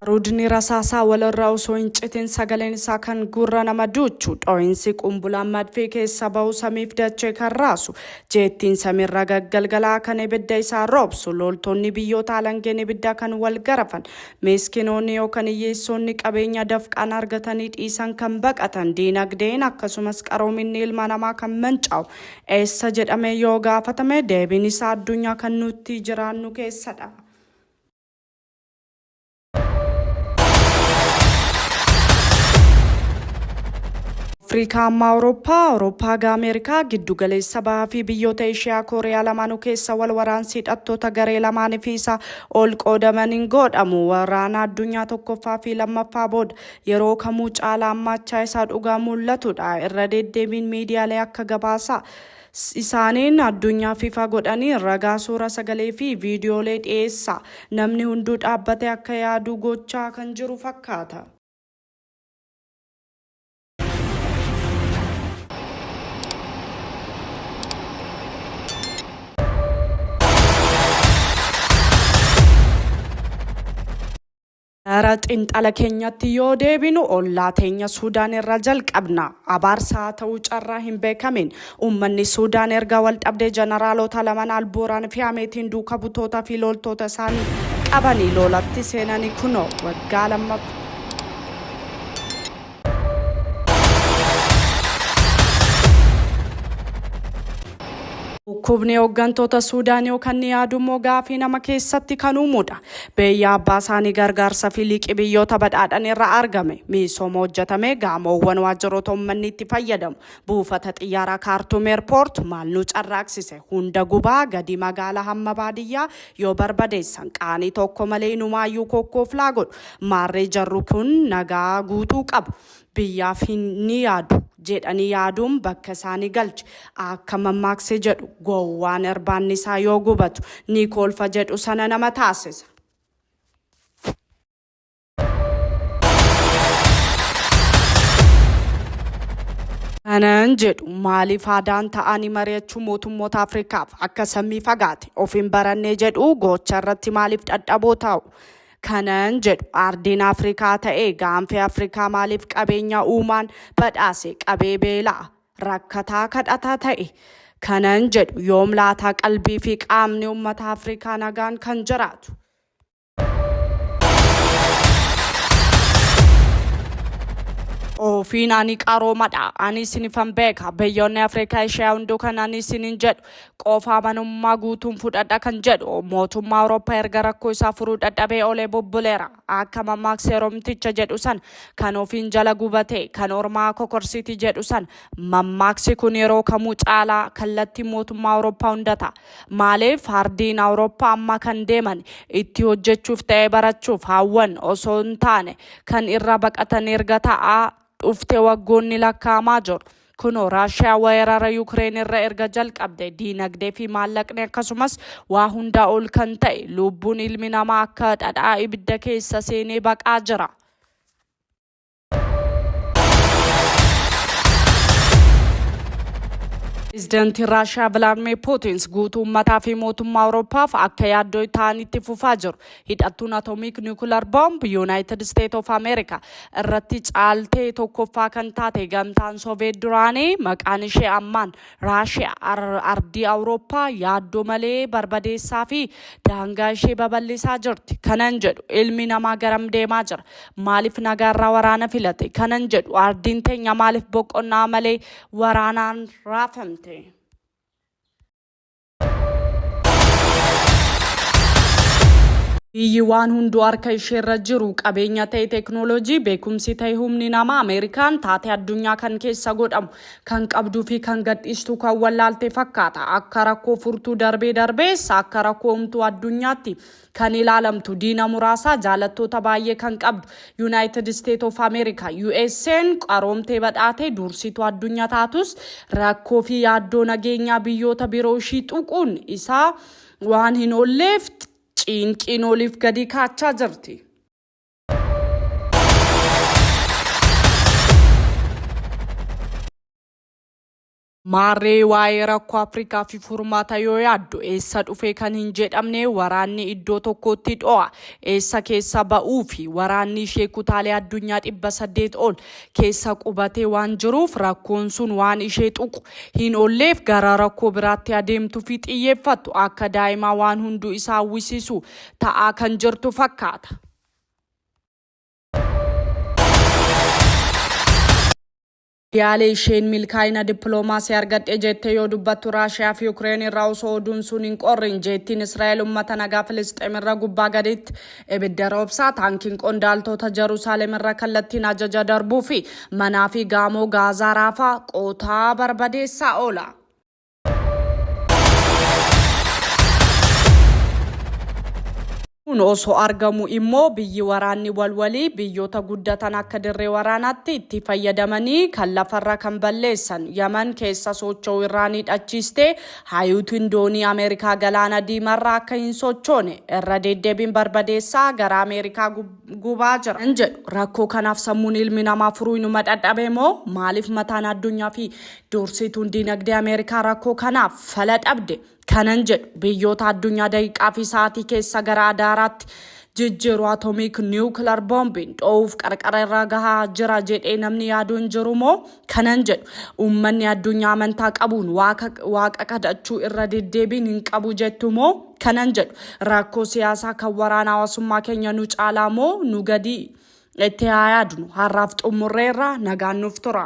Ruudni rasaasaa walirraa osoo hin citin sagaleen isaa kan gurra nama duuchu dhoo'insi qumbulaan madfii keessa bahu samiif dachee kan raasu jeettiin samiirra gaggalgalaa kan ibidda isaa roobsu loltoonni biyyoota alangeen ibidda kan wal garafan Miiskinoonni yookan hiyyeessoonni qabeenya dafqaan argatanii dhiisan kan baqatan, diinagdeen akkasumas qaroominni ilma namaa kan mancaa'u eessa jedhamee yoo gaafatame deebiin isaa addunyaa kan nuttii jiraannu keessa dha. Afriikaa ammaa Awurooppaa, Awurooppaa gaa Ameerikaa, giddu galeessa bahaa fi biyyoota Eeshiyaa Kooriyaa lamaanuu keessa wal waraansi hidhattoota garee lamaanii fi isa ol qoodaman hin goodhamu. Waraana addunyaa tokkoffaa fi lammaffaa booda yeroo kamuu caalaa ammaachaa isaa dhugaa mul'atudha. Irra deddeebiin miidiyaalee akka gabaasaa isaaniin addunyaa fifa godhanii ragaa suura sagalee fi viidiyoolee dhiyeessaa namni hunduu dhaabbatee akka yaaduu gochaa kan jiru fakkaata. Gara xinxala keenyatti yoo deebinu ollaa teenya Suudaan irraa jalqabna. Abaarsa haa ta'uu carraa hin beekamin. Uummanni Suudaan erga wal dhabdee jeneraalota lamaan albuuraan fi hameetiin duuka butoota fi loltoota isaanii qabanii loolatti seenanii kunoo waggaa lammaffaa. Dhukkubni hooggantoota Suudaan yoo kan yaadu immoo gaafii nama keessatti kan uumudha. Beeyyaa abbaa isaanii gargaarsa fi liqii biyyoota badhaadhan irra argame. Miisooma hojjetame gaamoowwan waajjiroota uummanni itti fayyadamu. Buufata xiyyaaraa Kaartuum Eerpoort maal nu carraaksise? Hunda gubaa gadi magaalaa hamma baadiyyaa Yoo barbadeessan qaanii tokko malee inumaayyuu kokkooflaa godhu. Maarree jarru kun nagaa guutuu qabu. Biyyaaf hin ni yaadu. Jeedhanii yaaduun bakka isaa ni galche. Aakka mammaaksi jedhu gowwaan irbaanni isaa yoo gubatu ni kolfa jedhu sana nama taasisa. Kanan jedhu maaliif aadaan ta'anii mari'achuu mootummoota Afrikaaf akka sammii fagaate of hin barannee jedhu gocha irratti maaliif dhadhaboo ta'u. Kanan jedhu ardiin Afrikaa ta'ee gaanfee Afrikaa maaliif qabeenya uumaan badhaase qabee beelaa rakkataa kadhataa ta'e. Kanan jedhu yoom laataa qalbii fi qaamni uummata Afrikaa nagaan kan jiraatu. Ofiin ani qaroomadha. Ani isinifan beeka. Biyyoonni Afrikaa ishee hunduu kan ani isinin jedhu qofa amanummaa guutuun fudhadha kan jedhu mootummaa Awurooppaa erga rakkoo isaa furuu dadhabee olee bubbuleera. Akka mammaaksa Oromticha jedhu san kan ofiin jala gubate kan ormaa kokorsiti jedhu san mammaaksi kun yeroo kamuu caalaa kallattii mootummaa Awurooppaa hunda ta'a. Maalee faardiin Awurooppa amma kan deeman itti hojjechuuf ta'ee barachuuf haawwan osoo hin taane kan irra baqatan erga ta'aa dhufte waggoonni lakkaa'amaa jiru. Kunoo Raashiyaa wayarara Yuukireen irra erga jalqabde diinagdee fi maallaqni akkasumas waa hundaa ol kan ta'e luubbuun ilmi namaa akka dhadhaa ibidda keessa seenee baqaa jira. Pireezidantiin Raashiyaa Vilaadimir Puutins guutuu uummataa fi mootummaa Awurooppaaf akka yaaddoo ta'anitti fufaa jiru. Hidhattuun Atomiik Niwukilar Boomb Yuunaayitid Isteet of Ameerikaa irratti caaltee tokkoffaa kan taate gamtaan Sooviyeet duraanii maqaan ishee ammaan Raashiyaa ardii Awurooppaa yaaddoo malee barbadeessaa fi daangaa ishee babal'isaa jirti. Kanan jedhu ilmi namaa garam deemaa jira? Maaliif nagaarraa waraana filate? Kanan jedhu ardiin teenya maaliif boqonnaa malee waraanaan raafamte? Biyyi waan hunduu harka isheerra jiru qabeenya ta'e teeknooloojii beekumsi ta'e humni namaa Ameerikaan taatee addunyaa kan keessa godhamu kan qabduu fi kan gadhiistu kan wallaalte fakkaata. Akka rakkoo furtuu darbee darbees akka rakkoo humtuu addunyaatti Kan ilaalamtu diina muraasaa jaalattoota baay'ee kan qabdu Yunaayitid Isteet of Ameerika, USA'n, qaroomtee badhaatee duursituu addunya taatus rakkoo fi yaaddoo nageenyaa biyyoota biroo ishii tuquun isaa waan hin oolleef ciinqiin oliif gadii kaachaa jirti. Maarree waa'ee rakkoo Afrikaa fi furmaata yoo yaaddu eessa dhufe kan hin jedhamne waraanni iddoo tokkootti dho'a eessa keessa ba'uu fi waraanni ishee kutaalee addunyaa dhibba saddeet ol keessa qubatee waan jiruuf rakkoon sun waan ishee tuqu hin olleef gara rakkoo biraatti adeemtu fi xiyyeeffattu akka daa'imaa waan hunduu isaa hawwisiisu ta'aa kan jirtu fakkaata. Yaalii isheen milkaa'ina dippiloomaasii argadhe jette yoo dubbattu Raashiyaa fi Yukireen irraa osoo oduun sun hin qorrin jeettiin Israa'el ummata nagaa Filisxeem irra gubbaa gaditti ibidda roobsaa, taankiin qondaaltoota Jaruusaalem irra kallattiin ajaja darbuu fi manaa fi gaamoo Gaazaa raafaa, qotaa, barbadeessaa oola. kun osoo argamu immoo biyyi waraanni walwalii biyyoota guddatan akka dirree waraanaatti itti fayyadamanii kan lafarra kan balleessan yaman keessa socho'u irraa ni dhachiiste haayuutiin doonii ameerikaa galaana diimarra akka hin sochoone irra deddeebiin barbadeessaa gara ameerikaa gubaa jira hin jedhu rakkoo kanaaf sammuun ilmi namaa furuu inuma dhadhabe moo maaliif mataan addunyaa fi Dursituun diinagdee Ameerikaa rakkoo kanaaf fala dhabde kanan jedhu biyyoota addunyaa daqiiqaa fi sa'aatii keessa gara adaaraatti jijjiiru atomiik niwukilar boombiin dho'uuf qarqara irra gahaa jira jedhee namni yaadu hin jiru moo kanan jedhu uummanni addunyaa amantaa qabuun waaqa waaqa kadhachuu irra deddeebiin hin qabu jettu moo kanan jedhu rakkoo siyaasaa kan waraana hawaasummaa keenya nu caalaa moo nu gadii itti haa yaadnu har'aaf xumurreerra nagaan nuuf tura.